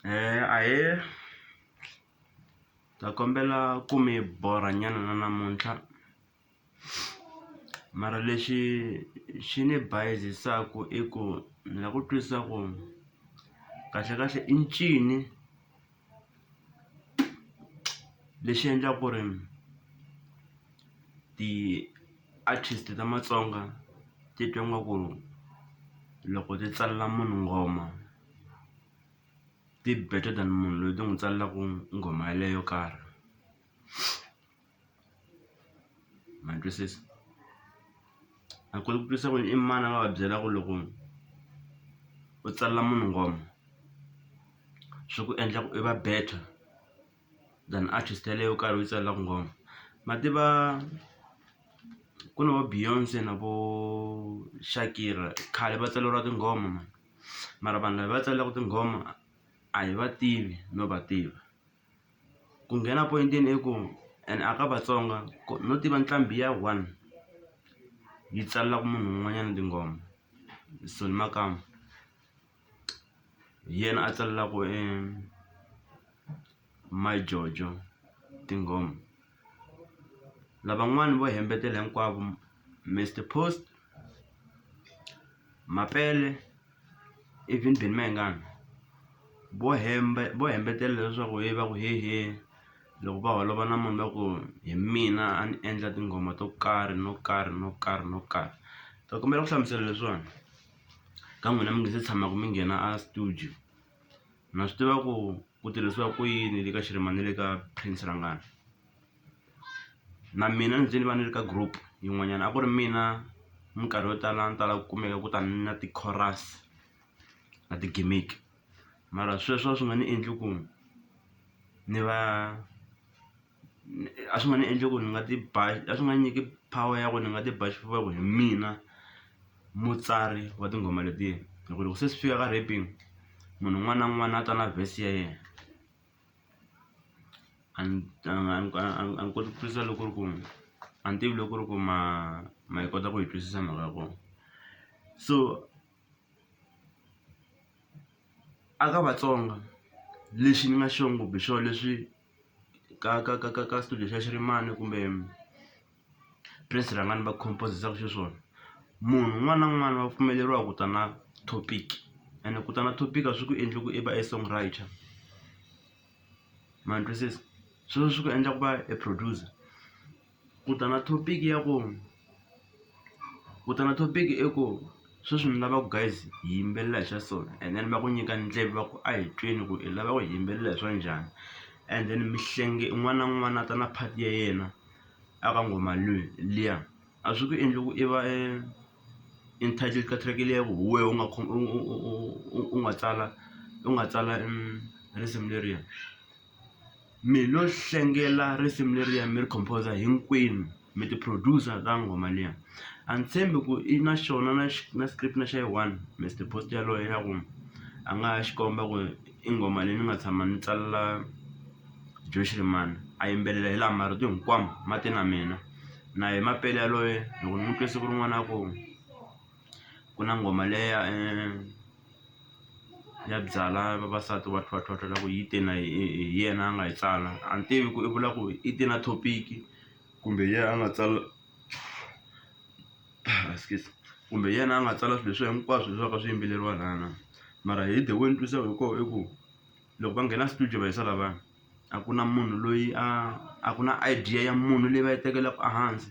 Eh, ahe ta kombela ku mi borha nyana na namuntlha mara lexi xi ni bayizisaku i ku ni la ku twisisa ku kahlekahle i ncini. lexi endlaka ku ri ti-artist ta matsonga ti twa nga ku loko ti tsalela munhu nghoma ti better than munhu loyi ti n'wi tsalelaku nghoma yaleyo yo karhi. ma ni twisisa a ku ri ku twisisa ku i mani a nga va byela ku loko u tsalela munhu nghoma swi ku endla ku i va better than artist yaleyo u karhi u yi tsalelaku nghoma ma tiva ku na vo Beyonce na vo Shakira khale va tsaleriwa tinghoma mani mara vanhu lava va tsalelaku tinghoma a hi va tivi no va tiva. ku nghena poyintini i ku and a ka vatsonga no tiva nqambi ya one yi tsalelaka munhu un'wanyana tinghoma Soni Makamu hi yena a tsalelaku e My Jojo tinghoma. Lavan'wana vo hembetela hinkwavo Mister Post, Mapele even Benny Mayengani vo hemba vo hembetela leswaku he va ku hehe loko va holova na munhu va ku hi mina a ni endla tinghoma to karhi no karhi no karhi no karhi ta kombela ku hlamusela leswiwani ka n'wina mi nga se tshamaka mi nghena a studio. na swi tiva ku ku tirhisiwa ku yini le ka xirima ni le ka prince rangani na mina ni ze ni va ni ri ka group yin'wanyana a ku ri mina minkarhi yo tala ni tala ku kumeka ku ta ni na ti-chorus na ti-gimmick mara sweswo a swi nga ni endli ku ni va. a swi nga ni endla ku ni nga ti ba a swi nga nyiki power ya ku ni nga ti ba xifuva ku hi mina mutsari wa tinghoma letiya hi ku loko se swi fika ka rapping munhu un'wana na un'wana a ta na verse ya yena a ni a ni koti ku twisisa loko ku ri ku a ni tivi loko ku ri ku ma ma yi kota ku yi twisisa mhaka ya kona so a ka Vatsonga lexi ni nga xona kumbe swona leswi. ka ka ka ka ka studio xa xirimani kumbe prince rhangani va compose-zaka xiswona munhu un'wana na un'wana wa pfumeleriwa ku ta na topic ene ku ta na topic a swi ku endli ku i va e song writer ma ni twisisa sweswo swi ku endla ku va e producer. Ku ta na topic ya ku ku ta na topic i ku sweswi ni lava ku guys hi yimbelela hi swa so and then va ku nyika ndleve va ku a hi tweni ku i lava ku hi yimbelela hi swa njhani and then mi hlenge un'wana na un'wana a ta na part ya yena a ka nghoma liya a swi ku endli ku i va e entitled ka track liya ku hi wehe u nga u nga tsala u nga tsala risimu leriya. Mi lo hlengela risimu leriya mi ri composer hinkwenu mi ti-producer ta nghoma liya a ni tshembi ku i na xona na na script na xa yi one Mister Post yaloye ya ku a nga ha xikomba ku i nghoma leyi ni nga tshama ni tsalela Joe Shirimani a yimbelela hi laha marito hinkwawo ma te na mina na ye Mapele yaloye loko ni n'wi twe siku rin'wana a ku. ku na nghoma leya ya byalwa vavasati va tlhwatlhwa loko yi te na hi yena a nga yi tsala a ni tivi ku i vula ku i te na topic kumbe hi yena a nga tsala excuse kumbe hi yena a nga tsala swilo leswi hinkwaswo leswi swi va ka swi yimbeleriwa laya na mara hi the way ni twisisa hi kona i ku loko va nghena studio va yisa lavaya a ku na munhu loyi a a ku na idea ya munhu leyi va yi tekelaka ehansi.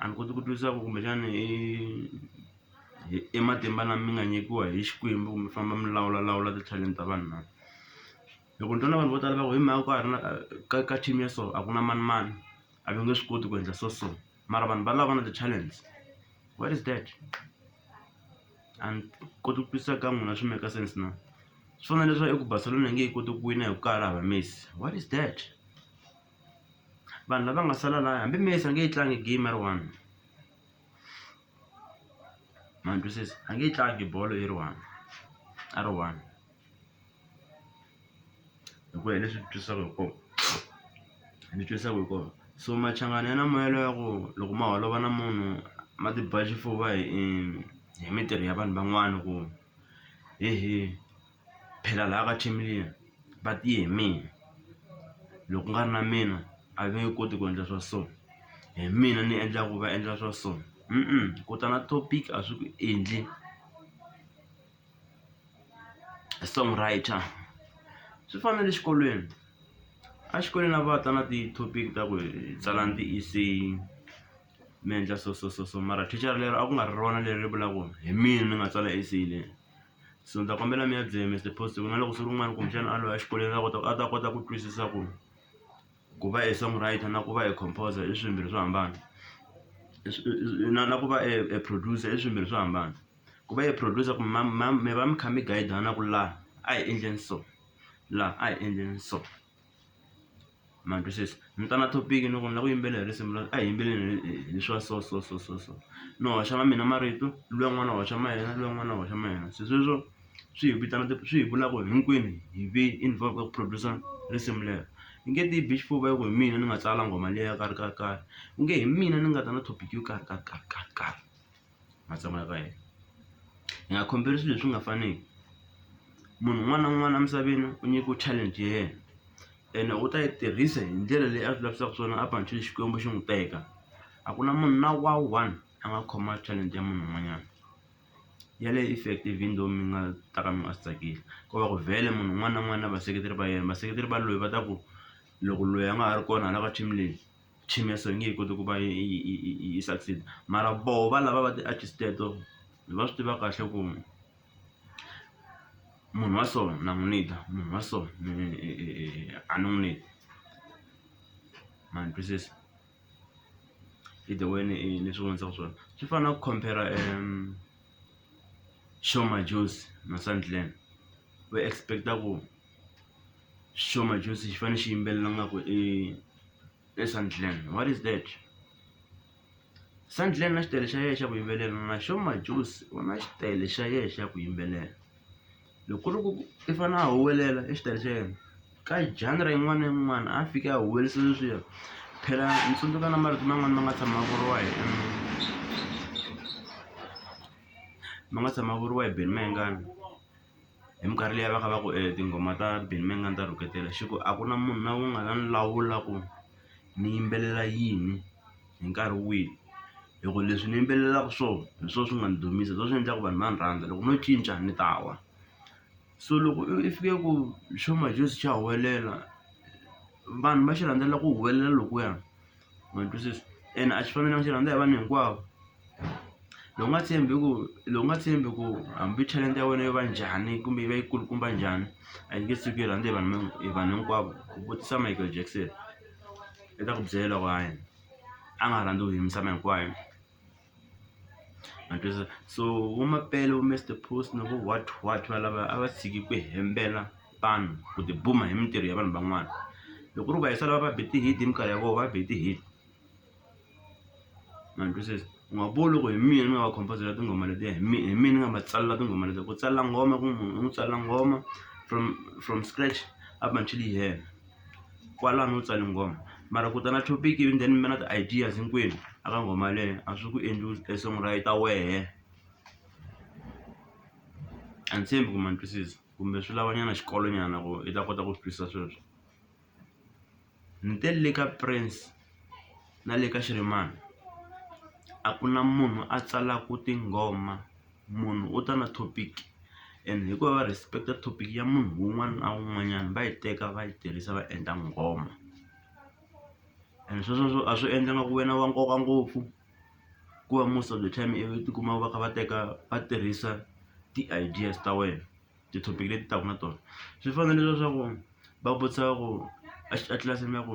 A ni koti ku twisisa ku kumbexana i i i matimba lama mi nga nyikiwa hi Xikwembu mi famba mi lawula lawula ti-talent ta vanhu na? Hi ku ni twa na vanhu vo tala va ku hi mhaka ku a ri na ka ka team ya so a ku na manimani a va nge swi koti ku endla so so mara vanhu valava va na ti-talents where is that? A ni koti ku twisisa ka n'wina swi make-a sense na? Swi fana na leswi va ngo i ku Barcelona a yi nge he koti ku wina hi ku ka ha ri hava Messi what is that? vanhu lava nga sala laya hambi Messi a nge yi tlangi game a ri one ma ni twisisa a nge yi tlangi bolo yi ri one a ri one hi ku ya hi leswi twisaka hi kona ni twisaka hi kona so machangani ya na moya lowa ku loko ma holova na munhu ma ti ba xifuva hi hi mintirho ya vanhu van'wana ku hehe. phela laya ka team liya va tiye hi mina loko ku nga ri na mina a va nge koti ku endla swa so hi mina ni endlaku va endla swa so ku ta na topic a swi ku endli song writer swi fana na le xikolweni exikolweni a va ta na ti-topic ta ku hi tsalani ti-essay mi endla so so so so mara thicara lero a ku nga ri rona leri vulaka ku hi mina ni nga tsala essay leyi. So ndza kombela mi ya byela Mister Post ku na loko swi ri un'wana kumbexana a lova exikolweni a kota a ta kota ku twisisa ku ku va a song writer na ku va a composer i swilo swimbirhi swo hambana na na ku va a producer i swilo swimbirhi swo hambana ku va a producer ku mi va mi kha mi guide-ana ku laha a hi endleni so laha a hi endleni so. ma twisisa ni ta na topic ni ku ni lava ku yimbelela hi risimu leri a hi yimbeleleni hi hi swa so so so so so ni hoxa ma mina marito luya n'wana a hoxa ma yena luya n'wana a hoxa ma yena se sweswo swi hi vitana swi hi vula ku hinkwenu hi ve involve ka ku produce-a risimu lero hi nge ti bi xifuva hi ku hi mina ni nga tsala nghoma leyi yo karhi karhi karhi ku nge hi mina ni nga ta na topic yo karhi karhi karhi karhi karhi. ma tshamaka ka yena hi nga khompheri swilo leswi nga faniki munhu un'wana na un'wana emisaveni u nyikiwe talent ya yena ene u ta yi tirhisa hi ndlela leyi a swi lavisaka swona up until xikwembu xi n'wi teka a ku na munhu na wa one a nga khoma talent ya munhu un'wanyana yaleyo effect even though mi nga ta ka mi nga swi tsakeli ko va ku vhele munhu un'wana na un'wana na vaseketeri va yena vaseketeri va loyi va ta ku loko loyi a nga ha ri kona hala ka team leyi. chimisa yi nge he koti ku va yi yi yi yi yi succeed mara voho va lava va ti-artist teto va swi tiva kahle ku munhu wa so na n'wu need-a munhu wa so ni a ni n'wu need ma ni twisisa i the way ni ni swi vonisaka swona swi fana na ku compare Sho Madjozi na Sandland va expect-a ku. xo majozi xi fanele xi yimbelela nga ku i i sandland what is that sandland na xitayele xa yena xa ku yimbelela na xo majozi u na xitayele xa yena xa ku yimbelela loko ku ri ku i fane a huwelela i xitayele xa yena ka genre yin'wana na yin'wana a fike a huwelerisa sweswiya phela ni tsundzuka na marito man'wani ma nga tshama ma vuriwa hi ma nga tshama ma vuriwa hi Benny Mayengani. hi minkarhi leyi a va kha va ku e tinghoma ta Benny Mayengani ta rhuketela xi ku a ku na munhu la ku nga ta ni lawula ku ni yimbelela yini hi nkarhi wihi hi ku leswi ni yimbelelaka swona hi swona swi nga ni dumisa hi swona swi endlaka vanhu va ni rhandza loko no cinca ni ta wa so loko i fike ku xo manjhezi xa huwelela vanhu va xi rhandzela ku huwelela lokuya. Matwisisa? Ene a swi fani na maxaka ya vanhu hinkwavo. Loko u nga tshembi ku loko u nga tshembi ku hambi talenta ya wena yo va njhani kumbe yi va yi kulukumba njhani, a yi nge tshuki yi rhandza hi vanhu hi vanhu hinkwavo. Ku vutisa Michael Jackson, u ta ku byela ku hayi a nga rhandziwi hi misava hinkwayo. Ma twisisa so vo Mapele vo Mister Post na vo what what valava a va tshiki ku hembela vanhu ku ti buma hi mintirho ya vanhu van'wana loko ku ri va hi sala va va be ti-hit hi minkarhi ya vona va be ti-hit ma ni twisisa u nga vuli loko hi mina ni nga va khompozela tinghoma letiya hi mina hi mina ni nga ma tsalela tinghoma letiya ku tsala nghoma ku munhu u n'wi tsalela nghoma from from scratch up until yi hela. kwalano u tsale nghoma mara ku ta na topic ivi then mi va na ti-ideas hinkwenu a ka nghoma yaleyo a swi ku endli e song ra yi ta wehe a ni tshembi ku ma ni twisisa kumbe swi lava nyana xikolo nyana ku i ta kota ku swi twisisa sweswo ni te le ka Prince. na le ka xirimani a ku na munhu a tsalaka tinghoma munhu u ta na topic and hikuva va respect topic ya munhu un'wana na un'wanyana va yi teka va yi tirhisa va endla nghoma and sweswo a swi endla nga ku wena wa nkoka ngopfu ku va most of the time i vi tikuma va kha va teka va tirhisa ti-ideas ta wena ti-topic leti taka na tona swi fanele leswaku va vutisa ku a tlilasini ya ku.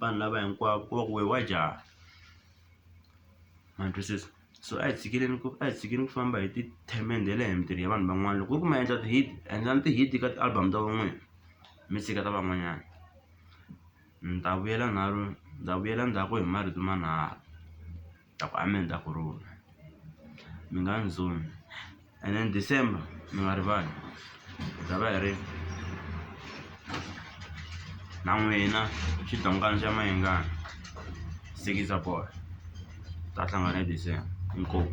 vanhu lava hinkwavo ku va ku wehe wa jaha ma twisisa so a hi tshikeleni ku a hi tshikeni ku famba hi tithemende hi le mintirho ya vanhu van'wana loko ku ri ku ma endla ti-hit endlani ti-hit ka ti-album ta van'wina mi tshika ta van'wanyana ni ta vuyela ni ta vuyela ndzhaku hi marito manharhu. Ta ku a mi endla ku rhula mi nga ni zoni and then December mi nga rivali hi ta va hi ri na n'wina xidongani xa Mayengani sikiza bolo hi ta hlangana hi December inkomu.